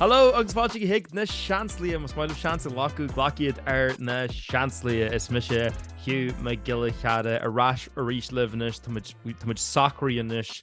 Hello agus fáilte chuig Na Seansálaithe, más maith libh seans a ghlacadh, glac iad ar Na Seansálaithe. Is mise Hugh Mac Giolla Chearra, ar ais arís libh anois, tá muid- tá muid socraithe anois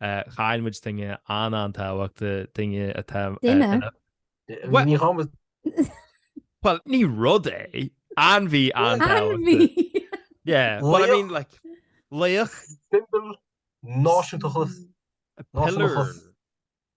Chaill muid duine an-an-tábhachtach, duine atá... Duine? Ní hama... Well, ní rud é. Ainmhí an-tábhachtach. Ainmhí! Yeah, well, I mean, like, laoch. Symbol, náisiúntachas, náisiúntachas.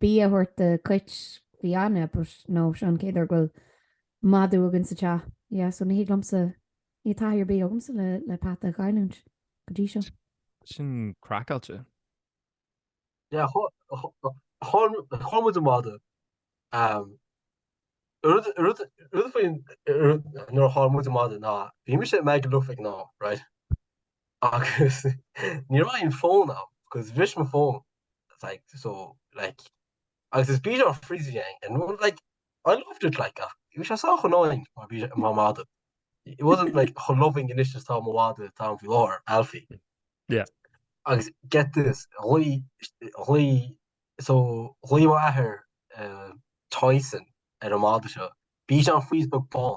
Bia a thabhairt do cuit, bhí aithne but no, seo an chéad uair go bhfuil madadh againn sa teach. Yeah, so ní thig liomsa, níl taithí ar bith agamsa le le peata a chailliúint go dtí seo. Sin craiceáilte. Yeah, fuair muid an madadh. Rud rud rud faoi nuair a fuair muid an madadh ná bhí mise i Magaluf ag an am, right? agus ní raibh aon fón agam cause bhris mo fón like so like agus is bichon frise é and well like I loved it like ach bhí sé sách annoying mar mhadadh it wasn't like chomh loving anois is atá mo mhadadh atá agam faoi láthair Alfie yeah agus get this ghlaoigh ghlaoigh so ghlaoigh mo athair uh, Tyson ar an mada seo bichon frise beag bán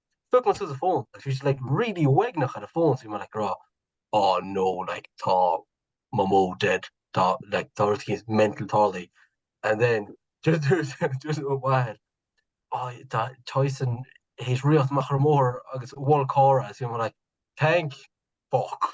stuck my sister's phone and she's like really wagging her phone so you like raw oh no like ta my mo dead ta like Dorothy is mental tally and then just just wide oh that Tyson he's real macher more agus wall car as you know like tank fuck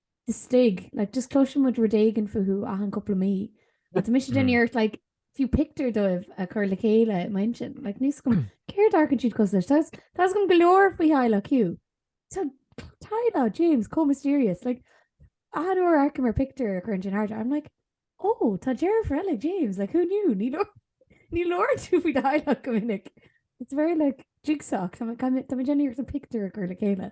istigh, like, just cloiseann muid rud éigin fúthu achan cúpla mí. Agus tá mise déanamh iarracht, like, fiú pictiúr dóibh a chur le chéile i m'intinn. Like, níl a fhios agam, céard a amharcann siad cosúil leis? Tá, tá a fhios agam go leor faoi theaghlach Hugh. Tá teaghlach James chomh mysterious, like, achan uair a amharcaim ar pictiúr a chuireann sé in airde, I'm like, ó, tá deirfiúr eile ag James, like, who knew? Ní labhrann, ní labhrann tú faoi do theaghlach go minic. It's very, like, jigsaw, tá mé, tá mé déanamh iarracht an pictiúr a chur le chéile.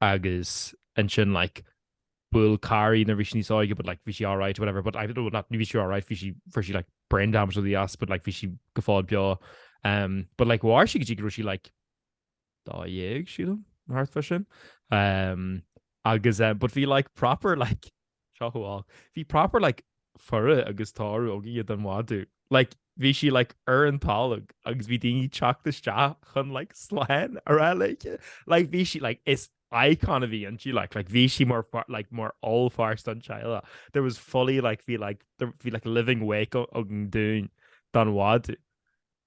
agus ansin like bhuail carr í nuair bhí sí níos óige but like bhí sí alright or whatever but I don't know not ní bhí sí alright bhí sí fuair sí like brain damage or something as but like bhí sí go fóill beo um but like mhair sí go dtí go raibh sí like dó dhéag sílim nó thart fá sin um agus eh but bhí like proper like Sochraid. Bhí proper like faire agus tórramh againn don mhadadh. Like bhí sí like ar an tolg agus bhí daoine teacht isteach chun like slán a rá léithe. Like bhí sí like is icon a bhí inti like like bhí sí mar far- like mar ollpháirt don teaghlach. There was fully like bhí like there- bhí like living wake a- againn dúinn don mhadadh.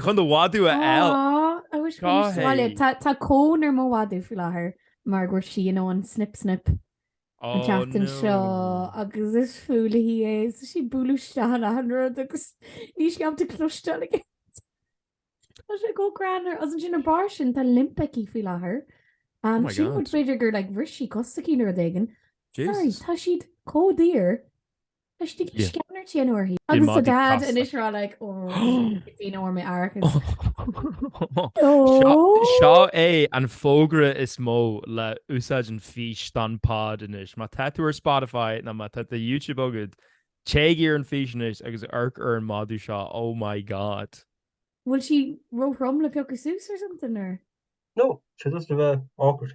chun do mhadadh a fháil. Aww, I wish Go Cúis hAodh. Bhuel, tá tá cón ar mo mhadadh faoi láthair mar go raibh sí i ndiaidh an snip snip an Oh tseachtain seo no. agus is fuath léi é so sí bualadh isteach in achan rud agus níl sí ábalta cloisteáil. Tá sé chomh greannmhar agus ansin ar bharr sin tá limp aici faoi láthair. Oh Um, my sin rud God. b'fhéidir gur like bhris sí cos s'aici nó rud éigin. Sorry, Jesus. tá siad comh daor. le x-ray sceanairt a dhéanamh uirthi. Agus tá dad anois ag rá like ó b'fhiú domh árachas. Seo é an fógra is mó le úsáid an fís don pod anois. Má tá tú ar Spotify nó má tá YouTube agad, téigh ar an fís anois agus amharc ar an mhadadh seo, oh my god. Bhfuil sí róthrom le piocadh suas or something or? No, she's just ag bheith awkward.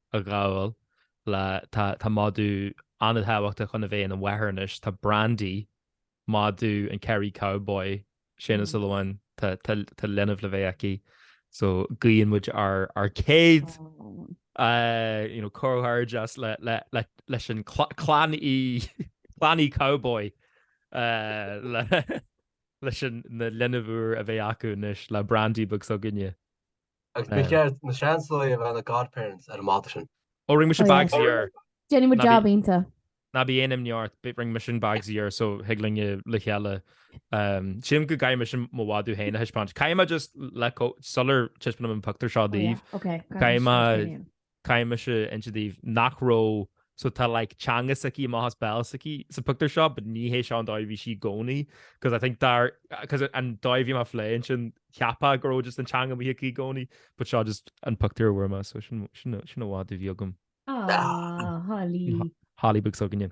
a ghabháil le tá madadh an-tábhachtach chun a bheith ina mháthair anois. Tá Brandy, madadh an Kerry Cowboy, Séaghan Ó Súilleabháin tá leanbh le bheith aici. So guíonn muid ár gcéad comhghairdeas leis an chlann Uí Chowboy leis na linbh úr a bheidh acu anois le Brandy beag s'againne. Agus ba cheart na Seansálaithe a bheith ina godparents ar an mhadadh sin. Oh rinne mise bags air. Déanfaidh muid jab iontach. Ná bí aon imní ort, but rinne mise bags air so thig linn le chéile. Sílim go gcaithfidh mise mo mhadadh féin a thaispeáint. Caithfidh mé just like sular taispeánaim an pictiúr seo daoibh, caithfidh mé Caithfidh mise insint daoibh nach raibh, so tá like teanga s'aici amach as béal s'aici sa pictiúr seo, but ní hé seo an dóigh a bhí sí i gcónaí, because I think dar, because an dóigh a bhí mé á phlé ansin cheapfá go raibh just an teanga amuigh aici i gcónaí, but seo just an pictiúr a fuair mé, so sin, sin, sin an madadh a bhí agam. Aww, Holly. Holly beag s'againne.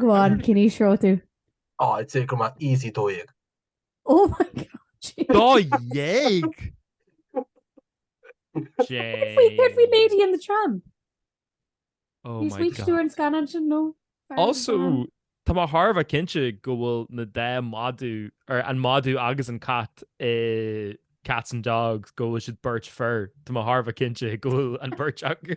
Go on, can you show too. Á, I'd say go mbeadh sí dó dhéag. Oh my god. Dó dhéag! Cad é faoi Lady in the Tramp. Oh Ní my sweet tú god. an scanán sin nó? Also, tá mé chóir a bheith cinnte go bhfuil na dá mhadadh, nó an madadh agus an cat i Cats and Dogs, go bhfuil siad beirt fear. Tá mé chóir a bheith cinnte go bhfuil an bheirt acu.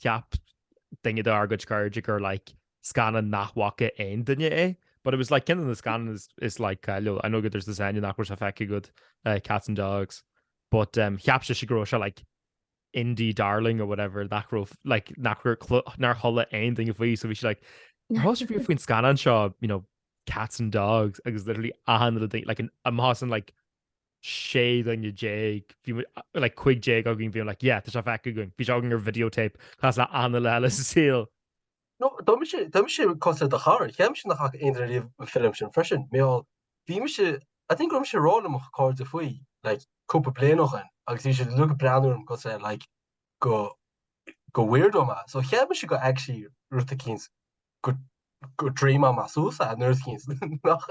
cheap duine dár gcuid cairde gur like scannán nach bhfaca aon duine é. But it was like ceann de na scannáin is, is like cáiliúil. I know gur dhúirt tusa nach raibh sé feicthe agat, cats and dogs. But um, cheap sí go raibh sé like indie darling or whatever nach raibh like nach raibh nár chuala aon duine faoi so bhí sí like oh an bhfuil a fhios agaibh faoin scannán seo, you know, cats and dogs agus literally achan duine like againn ansin like sé dhuine déag bhí muid like cúig déag againn bhí like yeah tá sé feicthe againn bhí sé againn ar videotape cosúil le aon duine eile sa saol. No tá mise tá mise cosúil le do chara cheap mé nach bhfaca aon duine riamh an film sin freisin mar bhí mise I think raibh mise ag rá le mo chairde faoi like cúpla bliain ó shoin agus bhí siad uilig ag breathnú orm cosúil le like go go weirdo mé so cheap mise gur actually rud éicint go go dream mé suas é nó rud éicint nach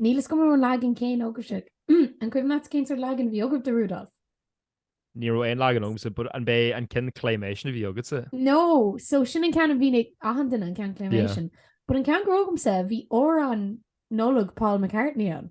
Níl a fhios agam an raibh an leagan céanna agaibhse. An cuimhin leat cén sórt leagan a bhí agaibh de Rudolph? Ní raibh aon leagan agamsa, but an b'é an ceann claymation a bhí agatsa? No, so sin an ceann a bhí ag achan duine, an ceann claymation. But an ceann go raibh agamsa, bhí amhrán Nollaig Paul McCartney ann.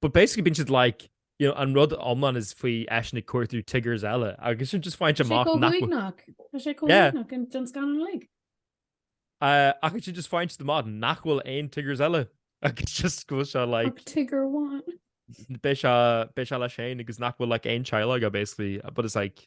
But basically bíonn siad like you know, an rud iomlán is faoi eisean ag cuartú Tiggers eile agus ansin just faigheann sé amach nach Tá sé cóíach an don scannán uilig. Uh, agus ansin just faigheann sé amach nach bhfuil aon Tiggers eile agus just go se like Tigger amháin. Beidh sé leis féin agus nach bhfuil like aon teaghlach aige basically, but it's like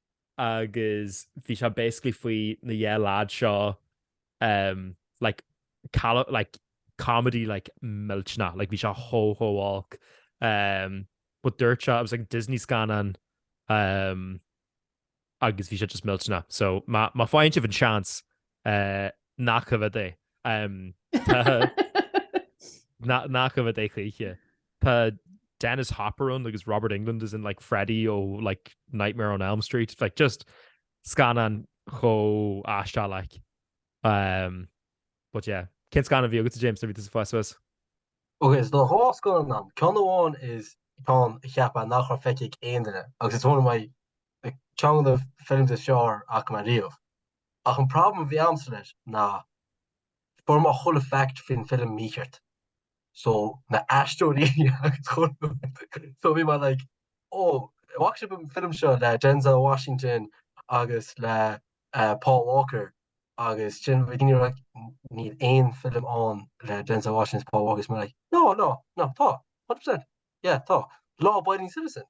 agus bhí sé basically faoi na dhá leaid seo um, like, cala, like, comedy like millteanach, like bhí sé chomh chomh olc. Um, but dúirt siad it was like Disney scannán um, agus bhí sé just millteanach. So má fhaigheann sibh an seans Ná coimhéad é. Ná coimhéad é choíche. Tá Dennis Hopper ann agus Robert Englund as in like Freddy ó like Nightmare on Elm Street like just scannán chomh aisteach like um, but yeah cén scannán a bhí agat James nuair a bhí tú ag fás Ok so tá dhá scannán ná ceann amháin is ceann a cheap mé nach raibh feicthe ag aon duine agus it's one of my ceann de na films is fearr a chonaic mé riamh Ach an problem a bhí agamsa leis ná fuair mé chuile fact faoin film mícheart. So na aisteoirí so bhí mé like oh bhfaca sibh an film seo le Denzel Washington agus le uh, Paul Walker agus ansin bhí daoine like níl aon film ann le Denzel Washington Paul Walker mé like no no no tá 100% yeah tá Law Abiding Citizen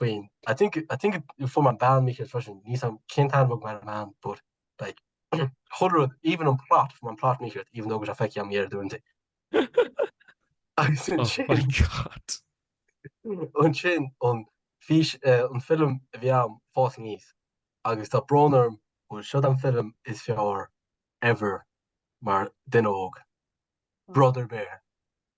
faoin I think I think fuair mé an bhean mícheart freisin níl a fhios am cén t-ainm a bhí ag my man but like chuile rud even an plot fuair mé an plot mícheart even though go raibh sé feicthe am ar dúnta agus ansin an fi an film a bhí am ag fás aníos agus tá brón orm bhfuil siod an film is fearr ever mar duine óg Brother Bear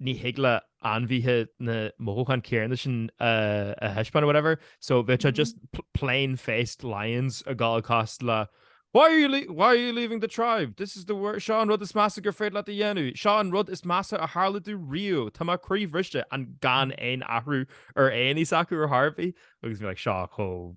ní thig le ainmhithe na mothúcháin céarna sin a thaispeáin or whatever, so bhí sé just plain faced lions ag gabháil cosúil le Why are you le- why are you leaving the tribe? This is the wor- seo an rud is measa gur féidir leat a dhéanamh, seo an rud is measa a tharla domh riamh, tá mé croíbhriste and gan aon athrú ar an aghaidh s'acu ar chor ar bith, agus bhí like seo chomh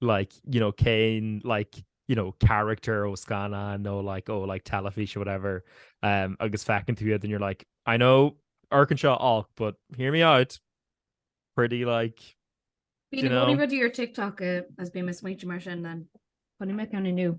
like you know céin like you know character ó scanna nó like ó oh, like telefíe whatever um, agus fecinn tú iad and you're like I know Arkansas all but hear me out pretty like you know, your TikTok uh, as being a sweet immersion then funny me kind of new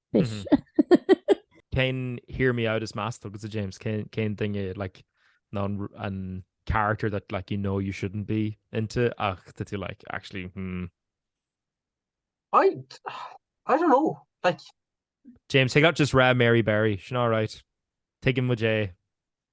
fish. Ken hear me out as master agus a James Ken Ken thing it like non an character that like you know you shouldn't be into ach that you like actually hmm. I I don't know like James take out just rad Mary Barry she's not right take him with Jay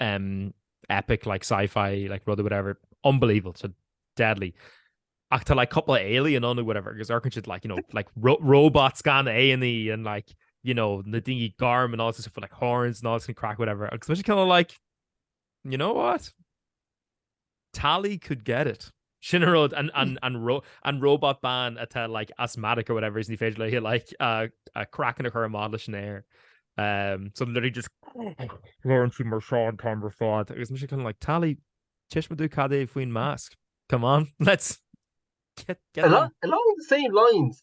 um, epic like sci-fi like rud whatever unbelievable so deadly ach tá like couple alien on whatever because ar si like you know like ro robots gan aní and like you know na dingy garm and all this for like horns and all this can crack whatever agus kind of like you know what Tali could get it. Sin an rud, an robot bean atá like asthmatic or whatever is ní féidir léi like a craiceann a chur i mbád leis an aer. Um so literally just labhrann sí mar seo an t-am ar fad agus mise kind of like Tali, taispeáin domh cad é faoin mask? Come on, let's get along the same lines,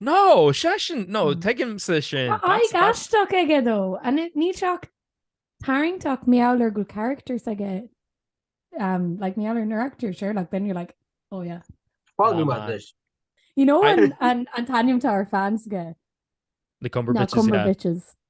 No, seisean, no, tuigimse sin. Tá aghaidh aisteach aige though. Níl sé ach tarraingteach mar gheall ar go bhfuil characters aige, like mar gheall ar na characters, sure, like then you're like, oh yeah. Fág tú maith anois. You know an t-ainm atá ar fans aige? Na Cumber Bitches. Na Cumber Bitches.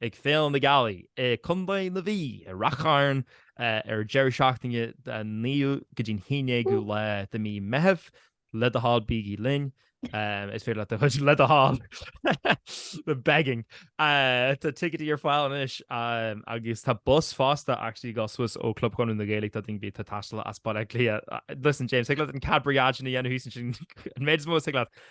ag Féile na Gealaí i gContae na Mhí i Ráth Chairn ar deireadh seachtaine den 9ú go dtí an 11ú lá de mhí Meitheamh. Le do thoil bígí linn. Is féidir le chuid le do thoil I'm begging. Tá ticéid ar fáil anois agus tá bus fosta actually ag gabháil suas ó Club Chonradh na Gaeilge do dhuine ar bith atá ag taisteal as Baile Átha Cliath. Listen James, thig leat an Cadbury Agin a dhéanamh thíos ansin an méid is mó is thig leat